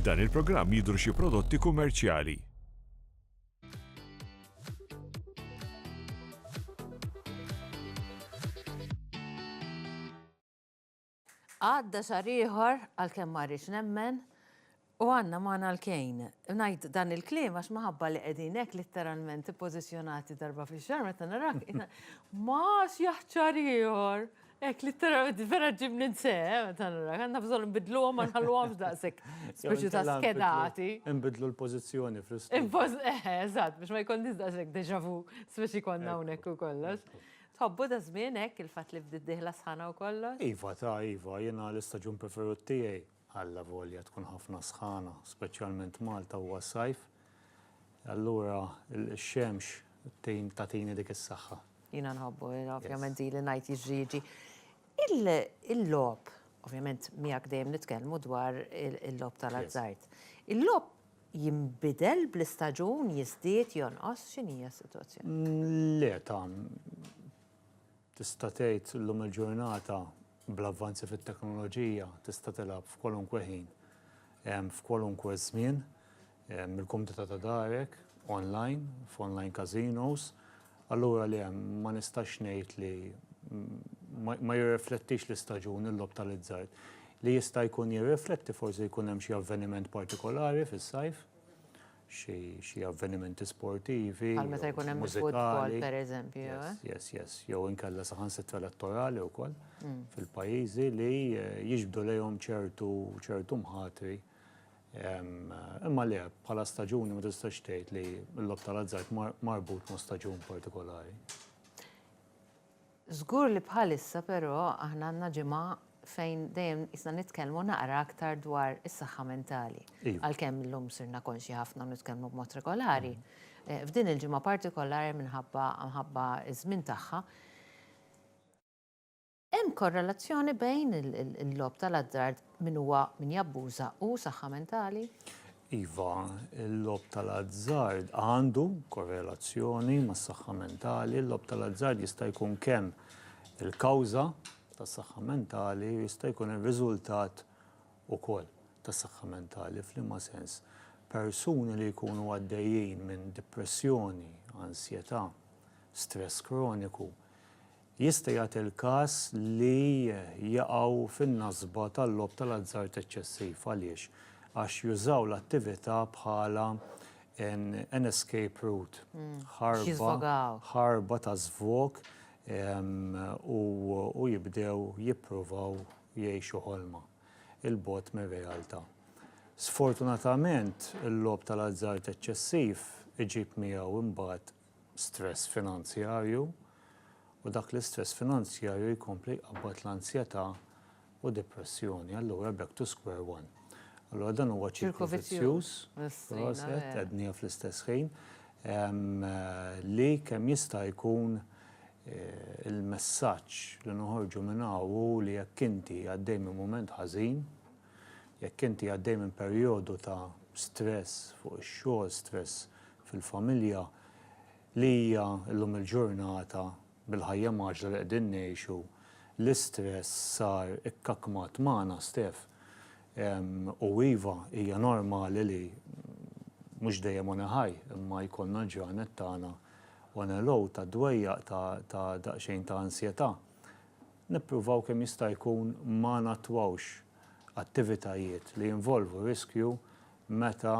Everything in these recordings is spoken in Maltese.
F'dan il-programm jidhru xi prodotti kummerċjali. Għadda xahar ieħor, għalkemm ma rridx nemmen, U għandna magħna l-kejn. Ngħid dan il-kliem għax minħabba li qegħdin hekk litteralment ippożizzjonati darba fix-xahar meta narak ma x'jaħt xahar ieħor. Hekk litteralment vera ġġibni nseħħ eh, meta narak. Għandna bżonn nbidluhom ma nħalluhomx daqshekk speċi ta' skedati. Inbidlu l-pożizzjoni fl-istudju. Eh, eżatt, biex ma jkollniex daqshekk deja vu speċi konna hawnhekk u kollox. Tħobbu da żmien hekk il-fatt li bdiet dieħla sħana u kollox? Iva ta' iva, jiena l-istaġun preferut tiegħi. allavolja tkun ħafna sħana, speċjalment Malta huwa s-sajf, allura x-xemx tgħin tagħtini dik is-saħħa. Jiena nħobbu, ovvjament zi li ngħid jiġri jiġi. Il-logħob, ovvjament miegħek dejjem nitkellmu dwar il-logħob tal-azzard. Il-logħob jinbidel bl-istaġun, jiżdied, jonqos, x'inhija s-sitwazzjoni? Le, ta' tista' tgħid llum il-ġurnata Bl-avvanzi fit-teknoloġija tista' tilgħab f'kwalunkwe ħin, f'kwalunkwe żmien, mill-kumdità ta' darek, online, f'online casinos, allura le, ma nistax ngħid li ma jirriflettix l-istaġun il-logħob tal-izzard. Li jista' jkun jirrifletti forsi jkun hemm xi avveniment partikolari fis-sajf, xi avvenimenti sportivi. Bħal meta jkun hemm il-futbol, pereżempju. Yes, yes, yes. Jew inkella saħansitra elettorali wkoll mm. fil-pajjiżi li eh, jiġbdu lejhom ċertu ċertu mħatri. Imma le, bħala staġuni ma tistax tgħid li l-lob tal-azzard marbut ma' staġun partikolari. Żgur li bħalissa però aħna għandna ġimgħa fejn dejjem qisna nitkellmu naqra aktar dwar is-saħħa mentali. Għalkemm illum sirna konxji ħafna u nitkellmu b'mod regolari, f'din il-ġimgħa partikolari minħabba minħabba ż-żmien tagħha, hemm korrelazzjoni bejn il-logħob tal-azzard Min huwa min jabbuża hu saħħa mentali? Iva, il-logħob tal-azzard għandu korrelazzjoni mas-saħħa mentali. Il-logħob tal-azzard jista' jkun kemm il-kawża tas-saħħa mentali u jista' jkun ir-riżultat ukoll tas-saħħa mentali. F'liema sens? Persuni li jkunu għaddejjin minn dipressjoni, ansjetà, stress kroniku, Jista' jagħti l-każ li jaqgħu fin-nasba tal-logħob tal-azzard eċċessiv. Għaliex? Għax jużaw l-attività bħala an escape route, ħarba ta' żvog u jibdew jippruvaw jgħixu ħolma 'l bogħod mir-realtà. Sfortunatament, il-logħob tal-azzard eċċessiv iġib miegħu imbagħad stress finanzjarju u dak l-istress finanzjarju jkompli jqabbad l-anzjetà u depressjoni. Allura back to square one. Allura dan huwa ċirku vizzjuż, proset, qegħdniha fl-istess ħin, li kemm jista' jkun il-messaġġ li noħorġu minn hawn hu li jekk inti għaddej minn mument ħażin, Jekk inti għaddej minn perjodu ta' stress fuq ix-xogħol, stress fil-familja, li hija llum il-ġurnata bil-ħajja mgħaġġla li qegħdin ngħixu, l-istress sar ikkakmat magħna stess. U iva, hija normali li mhux dejjem on a high, imma jkollna l-ġranet tagħna on a low, tad-dwejjaq, ta' daqsxejn ta' ansjetà. Nippruvaw kemm jista' jkun ma nattwawx attivitajiet li jinvolvu riskju meta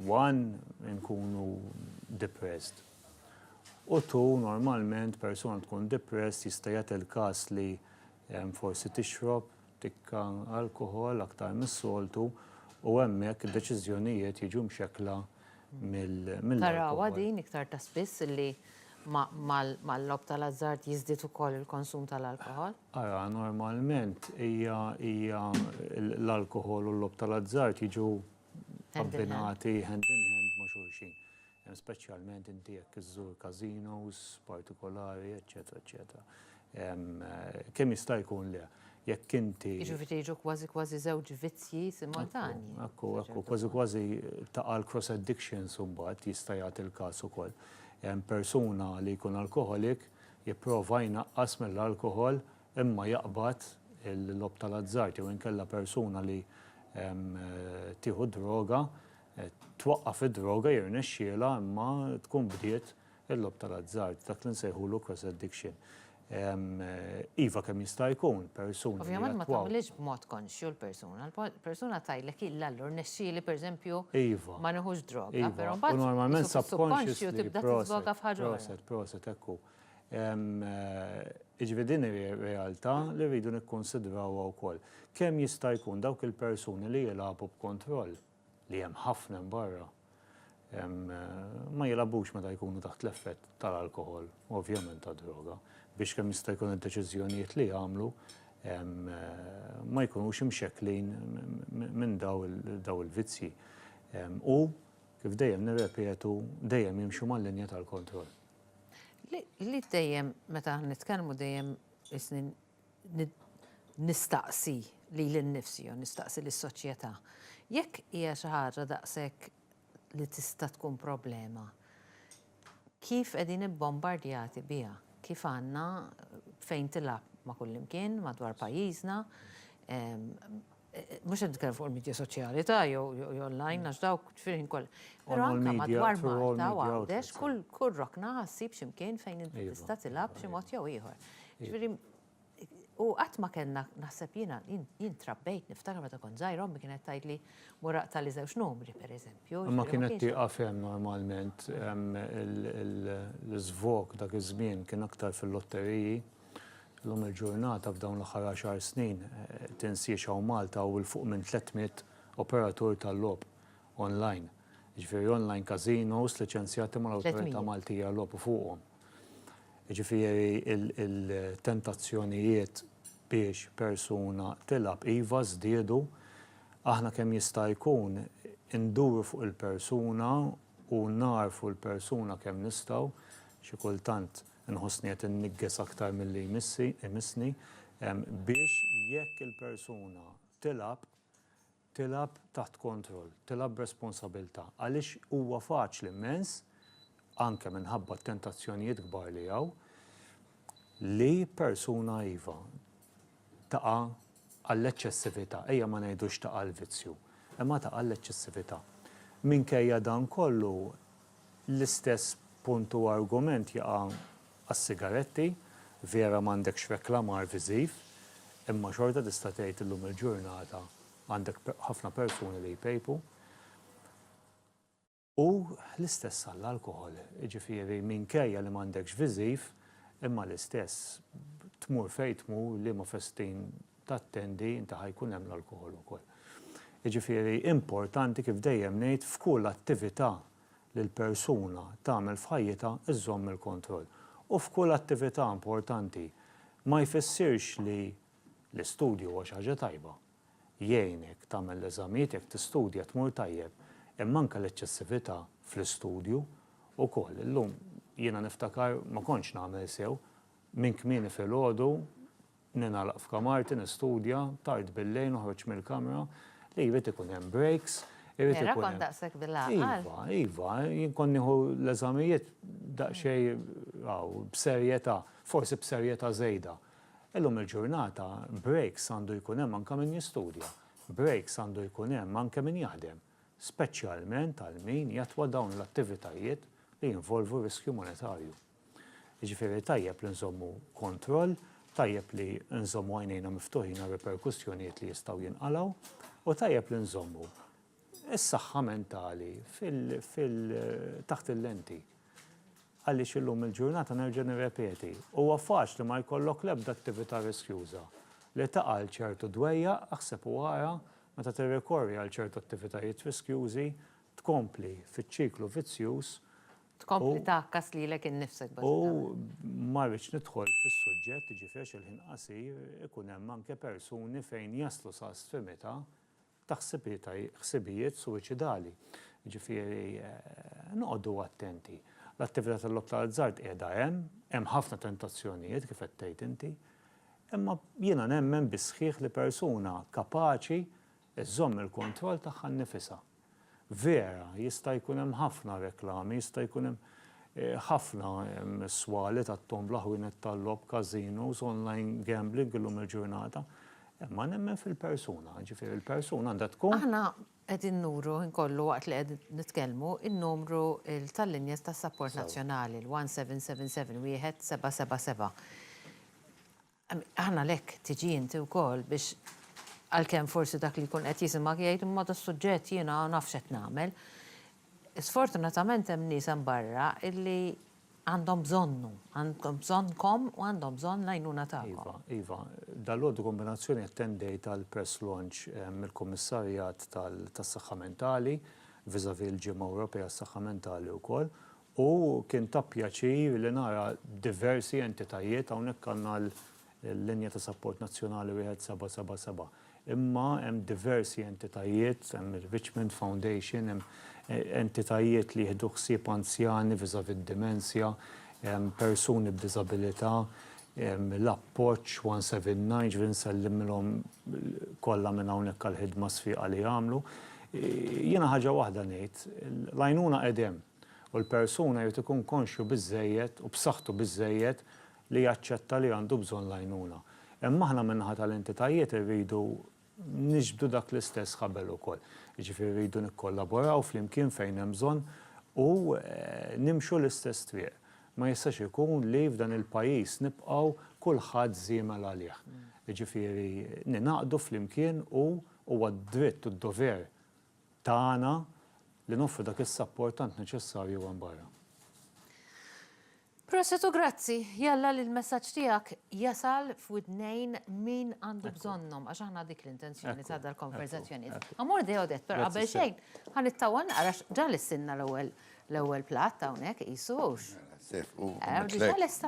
one inkunu depressed. U two normalment persuna tkun depressed jista' jagħti l-każ li forsi tixrob, tikka alkoħol aktar mis-soltu u hemmhekk id-deċiżjonijiet jiġu mxekkla mill-alkoħol. Tarawha din iktar ta' spiss li mal-logħob tal-ażżard jiżdied ukoll il-konsum tal-alkoħol? Ara, normalment hija l-alkoħol u l-logħob tal-ażżard jiġu abbinati hand in hand ma' xulxin. speċjalment inti jekk iżżur każinos partikolari, eċċetera, eċċetera. Kemm jista' jkun le, jekk inti. Jiġifieri jiġu kważi kważi żewġ vizzji simultanji. Ekku, ekku, kważi kważi taqa' l-cross addictions imbagħad jista' jagħti l-każ ukoll. Persuna li jkun alkoħolik jipprova jnaqqas mill-alkoħol imma jaqbad il-logħob tal-azzard jew inkella persuna li tieħu d-droga Twaqqaf id-droga jirnexxielha imma tkun bdiet il-logħob tal-azzard, dak li nsejħulu cross addiction. Iva kemm jista' jkun persuni. Ovvjament ma tagħmilhiex b'mod konxju l-persuna. Persuna tgħidlek illa allura rnexxieli pereżempju ma nieħux droga, però mbagħad normalment subconsciously tibda tiżvoga f'ħaġa oħra. Proset, proset, hekk hu. Jiġifieri din hi realtà li rridu nikkunsidrawha wkoll. Kemm jista' jkun dawk il-persuni li jilagħbu b'kontroll li hemm ħafna hemm barra, ma jilgħabux meta jkunu taħt l-effett tal-alkoħol u ovvjament tad-droga biex kemm jista' jkun id-deċiżjonijiet li jagħmlu ma jkunux imxekklin minn dawn il-vizzji. U, kif dejjem nirrepetu, dejjem jimxu mal-linja tal-kontroll. Li dejjem meta nitkellmu dejjem is-snin nistaqsi lili nnifsi jew nistaqsi lis-soċjetà, jekk hija xi ħaġa daqshekk li tista' tkun problema, kif qegħdin ibbombardjati biha? Kif għandna fejn tilgħab ma' kullimkien madwar pajjiżna, Mhux qed nitkellem fuq il-midja soċjali ta' jew online għax dawk fil-ħin kollha. Però anke madwar Malta u Għawdex kull rokna ħassib xi mkien fejn inti tista' tilgħab b'xi mod jew ieħor. Ġifieri u qatt ma kellna naħseb jiena jien trabbejt niftakar meta kont żgħira ommi kienet tgħidli mur aqta' li żewġ numri pereżempju. Imma kienet tieqaf hemm normalment l-iżvok dak iż-żmien kien aktar fil-lotteriji. Illum il-ġurnata f'dawn l-aħħar għaxar snin tinsiex hawn Malta u 'l fuq minn 300 operatur tal-logħob online, jiġifieri online casinos liċenzjati mal-Awtorità Maltija għal-Logħob u fuqhom. Jiġifieri il-tentazzjonijiet biex persuna tilgħab iva żdiedu, aħna kemm jista' jkun induru fuq il-persuna u nagħrfu l-persuna kemm nistgħu, xi kultant, Inħossni qed inniggeż aktar milli jmissi, imissni, biex jekk il-persuna tilgħab, tilgħab taħt kontroll, tilgħab b'responsabiltà. Għaliex huwa faċli mmens, anke minħabba t-tentazzjonijiet kbar li hawn, li persuna iva, taqa' għall-eċċessività, ejja ma ngħidux taqa' għall-vizzju, imma taqa' għall-eċċessività. Minkejja dan kollu, l-istess punt u argument jaqa' għas-sigaretti, vera m'għandekx reklamar viżiv, imma xorta tista' tgħid illum il-ġurnata għandek ħafna persuni li jpejpu. U l-istess għall-alkoħol, jiġifieri minkejja li m'għandekx viżiv, imma l-istess, tmur fejn tmur, liema festin tattendi, inti ħa jkun hemm l-alkoħol ukoll. Jiġifieri importanti kif dejjem ngħid f'kull attività li l-persuna tagħmel f'ħajjitha żżomm il-kontroll. U f'kull attività importanti ma jfissirx li l-istudju huwa xi ħaġa tajba, jgħinek tagħmel l-eżamijiet jekk tistudja tmur tajjeb imma anke l-eċċessività fl-istudju wkoll. Illum jiena niftakar ma kontx nagħmel sew, minn kmieni filgħodu ningħalaq f'kamarti nistudja, tard billejl noħroġ mill-kamra, li jrid ikun hemm breaks, irid ikun hemm. Vera kont daqshekk bil-għaqal? Iva, iva, jien kont nieħu l-eżamijiet daqsxejn b'serjetà, forsi b'serjetà żejda. Illum il-ġurnata breaks għandu jkun hemm anke min jistudja, breaks għandu jkun hemm anke min jaħdem, speċjalment għal min jatwa dawn l-attivitajiet li jinvolvu riskju monetarju. Jiġifieri tajjeb li nżommu kontroll, tajjeb li nżommu għajnejna miftuħin għar-riperkussjonijiet li jistgħu jinqalgħu u tajjeb li nżommu is-saħħa mentali taħt il-lenti. Għaliex illum il-ġurnata nerġa' nirrepeti, huwa faċli ma jkollok l-ebda attività riskjuża li taqa' għal ċertu dwejjaq, aħseb u ara, meta tirrikorri għal ċertu attivitajiet riskjużi, tkompli fiċ-ċiklu vizzjuż u. Tkompli tgħakkas lilek innifsek bażikament. U ma rridx nidħol fis-suġġett, jiġifieri għax il-ħin qasir, ikun hemm anke persuni fejn jaslu sa stfimità ta' ħsibijiet suwiċidali. Jiġifieri noqogħdu attenti. L-attività tal-logħob tal-azzard qiegħda hemm, hemm ħafna tentazzjonijiet kif qed tgħid inti, imma jiena nemmen bis-sħiħ li persuna kapaċi żżomm il-kontroll tagħha nnifisha. Vera, jista' jkun hemm ħafna reklami, jista' jkun hemm ħafna swali tat-tombla, ħwienet tal-logħob, casinos, online gambling illum il-ġurnata. Imma nemmen fil-persuna, jiġifieri l-persuna għandha tkun. Aħna qegħdin nuru ħin kollu waqt li qed nitkellmu n-numru tal-linja tas-sapport nazzjonali, il-1777 1777. Aħna għalhekk tiġi inti wkoll biex għalkemm forsi dak li jkun qed jisimgħek jgħid imma das-suġġett jiena naf x'qed nagħmel. Sfortunatament hemm nies hemm barra illi għandhom bżonnu, għandhom bżonnkom u għandhom bżonn l-għajnuna tagħkom. Iva, iva. Dalgħodu kombinazzjoni attendejt għal press launch mill-Kummissarjat tas-Saħħa Mentali vis-à-vis il-Ġimgħa Ewropea għas-Saħħa Mentali wkoll U kien ta' pjaċir li nara diversi entitajiet, hawnhekk għandna l-linja ta' sapport nazzjonali wieħed seba' seba' seba', imma hemm diversi entitajiet, hemm ir-Richmond Foundation, hemm entitajiet li jieħdu ħsieb anzjani vis-à-vis d-dimensja, persuni b'diżabilità, l-Appoġġ 179, ġifieri nsellimilhom kollha minn hawnhekk għall-ħidma sfieqa li jagħmlu. Jiena ħaġa waħda ngħid, l-għajnuna qegħdh hemm. u l-persuna jrid ikun konxju biżżejjed u b'saħħtu biżżejjed li jaċċetta li għandu bżonn l-għajnuna. Imma aħna min-naħa tal-entitajiet irridu niġbdu dak l-istess ħabel ukoll. Jiġifieri rridu nikkollaboraw flimkien fejn hemm bżonn u nimxu l-istess triq. Ma jistax ikun li f'dan il-pajjiż nibqgħu kulħadd żiemel għalih. Jiġifieri ningħaqdu flimkien u huwa d-dritt u d-dover tagħna li noffru dak is-sapport tant neċessarju hemm barra. Prosit u grazzi, jalla li l-messaġġ tiegħek jasal f'widnejn min għandu bżonnhom, għax aħna dik l-intenzjoni ta' dal-konverżazzjonijiet. Amor de Odette, però qabel xejn, ħa nittawwa naqra għax ġa lissilna l-ewwel l-ewwel platt hawnhekk qisu hux. Ġa lesta.